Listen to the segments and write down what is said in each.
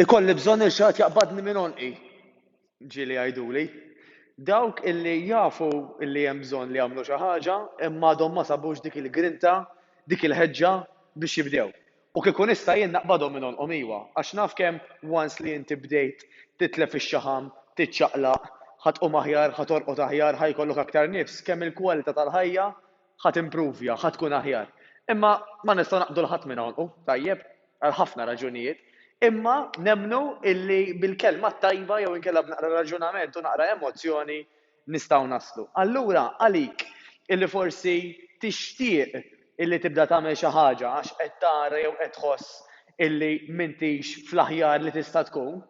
Ikolli bżonn lil xi ħadd jaqbadni minn għonqi, ġieli jgħiduli. Dawk illi jafu illi hemm bżonn li jagħmlu xi ħaġa imma għadhom ma sabux dik il-grinta, dik il-ħeġġa biex jibdew. U kieku nista' jien naqbadhom minn għonqhom iwa, għax naf kemm once li inti bdejt titlef ix-xaħam, tiċċaqlaq, ħa tqum aħjar, ħa torqod aħjar, ħa jkollok aktar nifs, kemm il-kwalità tal-ħajja ħa timpruvja, ħa tkun aħjar. Imma ma nistgħu naqbdu 'l ħadd minn hawn, u tajjeb, għal ħafna raġunijiet. Imma nemmnu illi bil-kelma t-tajba jew inkella b'naqra raġunament u naqra emozzjoni nistgħu naslu. Allura għalik illi forsi tixtieq illi tibda tagħmel xi ħaġa għax qed tara jew qed tħoss illi m'intix fl-aħjar li tista' tkun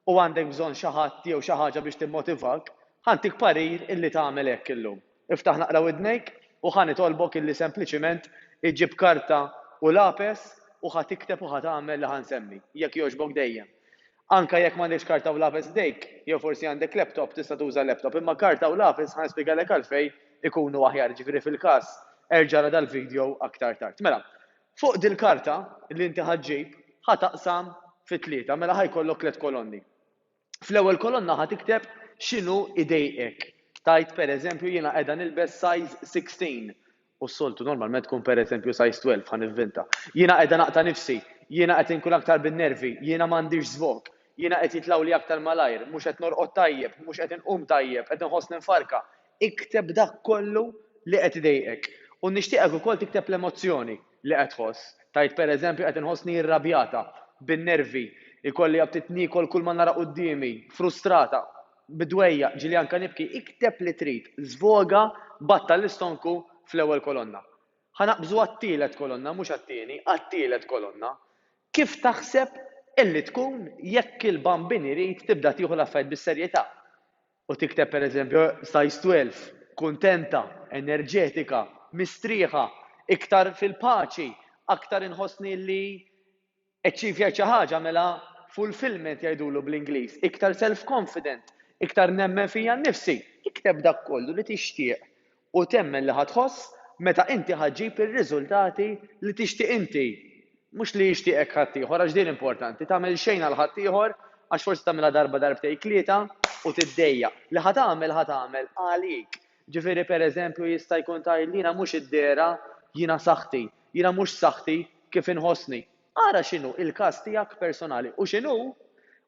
u għandek bżonn xi ħadd jew xi ħaġa biex timmotivak, ħa ntik parir illi tagħmel hekk illum. Iftaħ naqra widnejk u ħa nitolbok illi sempliċiment iġġib karta u lapes u ħa tikteb u ħa tagħmel li ħa nsemmi, jekk jogħġbok dejjem. Anke jekk m'għandekx karta u lapes f'idejk, jew forsi għandek laptop, tista' tuża laptop, imma karta u lapes ħa nispjegalek għalfejn ikunu aħjar, jiġifieri fil-każ erġa' ara dal-video aktar tard. Mela, fuq dil-karta li inti ħa ġġib, ħa taqsam fi tlieta, mela ħa jkollok tliet kolonni. Fl-ewwel kolonna ħa tikteb x'inhu jdejqek. Tgħid pereżempju jiena qiegħda nilbes size 16 u s-soltu normalment tkun pereżempju size 12 ħa nivvinta. Jiena qiegħda naqta' nifsi, jiena qed inkun aktar bin-nervi, jiena m'għandix żvog, jiena qed jitlgħuli aktar malajr, mhux qed norqod tajjeb, mhux qed inqum tajjeb, qed inħossni mfarrka, Ikteb dak kollu li qed idejqek. U nixtieqek ukoll tikteb l-emozzjoni li qed tħoss. Tgħid pereżempju, Qed inħossni irrabjata, bin-nervi, ikolli aptit niekol kull ma nara quddiemi, frustrata, bid-dwejjaq, ġieli anke nibki. Ikteb li trid, żvoga b'att tal-istonku fl-ewwel kolonna. Ħa naqbżu għat-tielet kolonna, mhux għat-tieni, għat-tielet kolonna. Kif taħseb illi tkun jekk il-Bambin irid tibda tieħu l-affarijiet bis-serjetà? U tikteb per eżempju size 12, kuntenta, enerġetika, mistrieħa, iktar fil-paċi, aktar inħossni li achievjajt xi ħaġa mela fulfilment jgħidulu bl-Ingliż, iktar self-confident, iktar nemmen fija nnifsi. Ikteb dak kollu li tixtieq u temmen li ħa tħoss meta inti ħa ġġib ir-riżultati li tixtieq inti, mhux li jixtieqek ħaddieħor, għax din importanti, tagħmel xejn għal ħaddieħor, għax forsi tagħmilha darba darbtejn tlieta u tiddejjaq, li ħa tagħmel ħa tagħmel għalik. Ġifieri per eżempju jista' jkun tgħidli jiena mhux id-dehra, jiena saħħti, jiena mhux saħħti kif inħossni. Ara x'inhu il-każ tiegħek personali u x'inhu,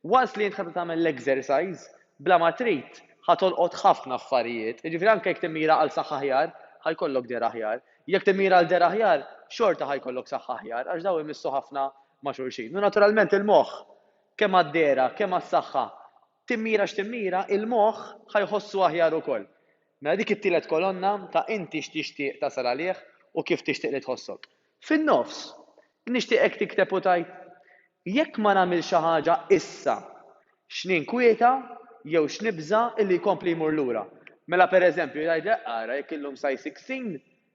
once li int ħadd tagħmel l-exercise, bla ma trid, ħa tolqot ħafna affarijiet. Jiġifieri anke jekk timmira għal saħħa aħjar, ħa jkollok dehra aħjar. Jekk timmira għal dehra aħjar, xorta ħa jkollok saħħa aħjar, għax dawn imissu ħafna ma' xulxin. U naturalment il-moħħ, kemm għad-dehra, kemm għas-saħħa, timmira x'timmira, il-moħħ ħa jħossu aħjar ukoll. Mela dik it-tielet kolonna ta' inti x'tixtieq tasal għalih u kif tixtieq li tħossok. Fin-nofs, nixtieq hekk tikteb u tgħid, Jekk ma nagħmilx xi ħaġa issa, x'ninkwieta jew x'nibża' illi jkompli jmur lura. Mela pereżempju jgħidlek, ara, jekk illum size sixteen,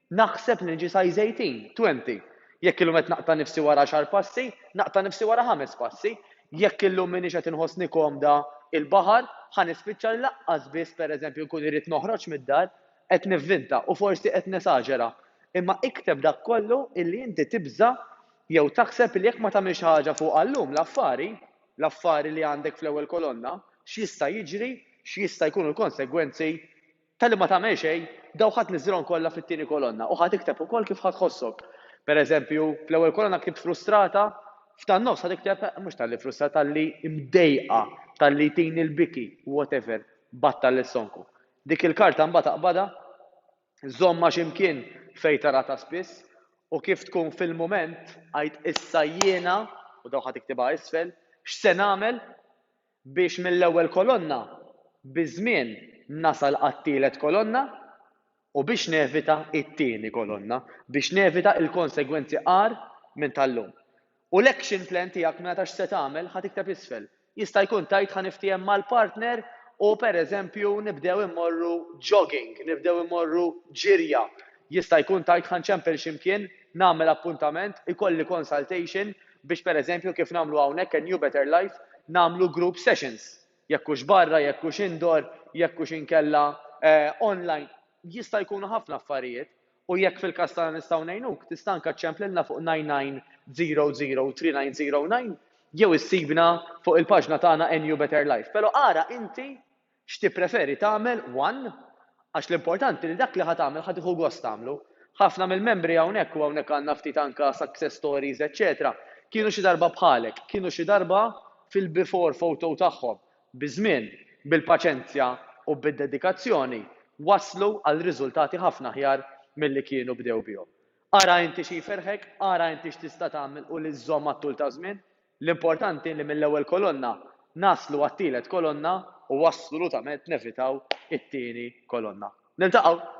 naħseb li niġi size eighteen, twenty. Jekk illum qed naqta' nifsi wara għaxar passi, naqta' nifsi wara ħames passi. Jekk illum m'iniex qed inħossni komda il-baħar, ħa nispiċċa li laqqas biss pereżempju nkun irrid noħroġ mid-dar. Qed nivvinta u forsi qed nesaġera, imma ikteb dak kollu illi inti tibża' jew taħseb illi jekk ma tagħmilx xi ħaġa fuqha llum, l-affari, l-affari li għandek fl-ewwel kolonna, x'jista' jiġri, x'jista' jkunu l-konsegwenzi talli ma tagħmel xejn, dawk ħa tniżżilhom kollha fit-tieni kolonna u ħa tikteb ukoll kif ħa tħossok. Pereżempju, fl-ewwel kolonna ktibt frustrata, f'tan-nofs ħa tikteb mhux talli frustrata, talli mdejqa, talli jtini l-biki, whatever, battal is-sonku. Dik il-karta mbagħad aqbadha, żommha xi mkien fejn taraha ta' spiss, u kif tkun fil-mument, għid issa jiena, u dawk ħa tiktibha isfel, x'se nagħmel biex mill-ewwel kolonna biż-żmien nasal għat-tielet kolonna u biex nevita t-tieni kolonna, biex nevita l-konsegwenzi agħar minn tal-lum. U l-action plan tiegħek mela ta' x'se tagħmel ħa tikteb isfel. Jista' jkun tgħid ħa niftiehem mal-partner u pereżempju nibdew immorru jogging, nibdew immorru ġirja. Jista' jkun tgħid ħa nċempel xi mkien, nagħmel appuntament, ikolli consultation biex pereżempju kif nagħmlu hawnhekk at New Better Life nagħmlu group sessions. Jekk hux barra, jekk hux indoor, jekk hux inkella online. Jista' jkunu ħafna affarijiet. U jekk fil-każ tagħna nistgħu ngħinuk, tista' anke ċċemp lilna fuq 99003909 jew issibna fuq il-paġna tagħna NU Better Life. Però ara inti x'tippreferi tagħmel one għax l-importanti li dak li ħa tagħmel ħa tieħu gost tagħmlu. Ħafna mill-membri hawnhekk, u hawnhekk għandna ftit anke success stories eċċetera, kienu xi darba bħalek, kienu xi darba fil-before photo tagħhom, Biż-żmien, bil-paċenzja u bid-dedikazzjoni waslu għal riżultati ħafna aħjar milli kienu bdew bihom. Ara inti xi jferrħek, ara inti x'tista' tagħmel u li żżomm għat-tul taż-żmien. L-importanti li mill-ewwel kolonna naslu għat-tielet kolonna u assolutament nevitaw it-tieni kolonna. Niltaqgħu!